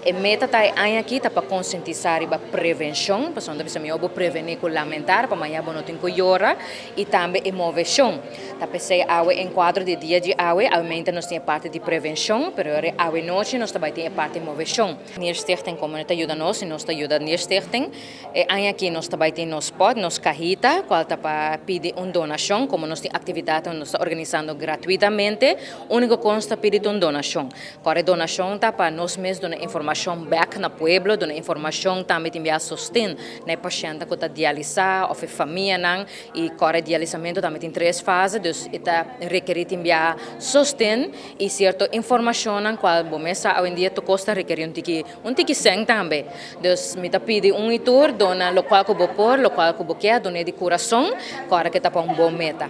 E meta ta e aña aki ta pa konsientisá riba prevenshon, pasobra ta bisa mihó bo prevení ku lamentar, pa mañá bo no tin ku yora, i tambe e moveshon. Ta p'esei awe en kuadro di e dia di awe, awemente nos tin e parti di prevenshon, pero yora e awe nochi nos ta bai tin e parti moveshon. Nierstichting komo ta yuda nos i nos ta yuda Nierstichting. E aña aki nos ta bai tin nos pot, nos cajita, cual ta pa pidi un donacion, como nos tin actividadnan cu nos ta organisando gratuitamente, unico cos ta pidi ta un donacion. Core e donacion ta pa nos mes duna informacion bek na pueblo, duna informacion tambe tin bia sosten na e pacientnan cu ta dialisa of e famianan y core e dialisamento tambe tin tres fase, dus e ta rekeri tin bia sosten y cierto informacionnan cual bo mes sa awendia tur cos ta rekeri un tiki Un tiki sèn tambe. Dus mi ta pidi un i tur, duna lokual ku bo por, lokual ku bo kier, dun'é di kurason, ku ora ke ta pa un bon meta.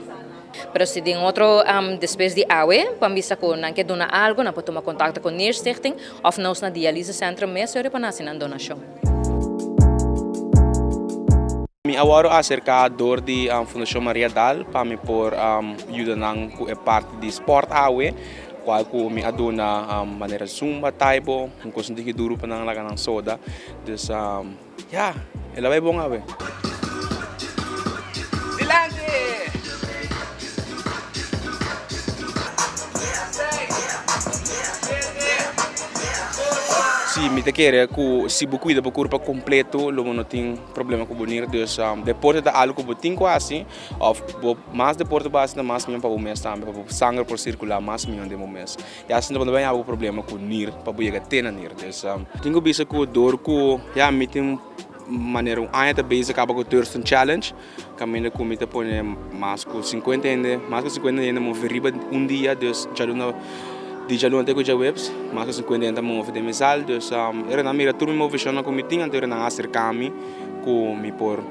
Pero si den otro am despues di awe, pan bista ku nan ke duna algu, nan por tuma kontakto ku Nierstichting òf nos na Dialyse Centrum mes yori pa nan hasi nan donashon. Mi a wòrdu aserká dor di Fundashon Maria Daal pa mi por yuda nan ku e parti di spòrt awe. Cual cu mi a duna manera zumba, taibo, un cos un tiki duru pa nan laga nan soda. Dus ya, el a bay bon awe. Si, mi ta kere cu si bo cuida bo curpa completo lo bo no tin problema cu bo nier. Dus deporte ta algo cu bo tin cu haci. Of bo mas deporte bo hasi mas mion pa bo mes tambe pa bo sanger por circula mas mion den bo mes y asina bo no bay habo problema cu nir pa bo yega te na nir dus tin cu bisa cu dor cu ya mi tin manera un aña ta bezig caba cu Thurston challenge caminda cu mi ta pone mas cu cincuenta hende mas cu cincuenta hende ta mofi riba un dia dus djaluna di djaluna te cu djaweps mas cu cincuenta hende ta mofi den mi sala dus ora nan mira tur mi moficion cu mi tin anto ora nan acercami cu mi por.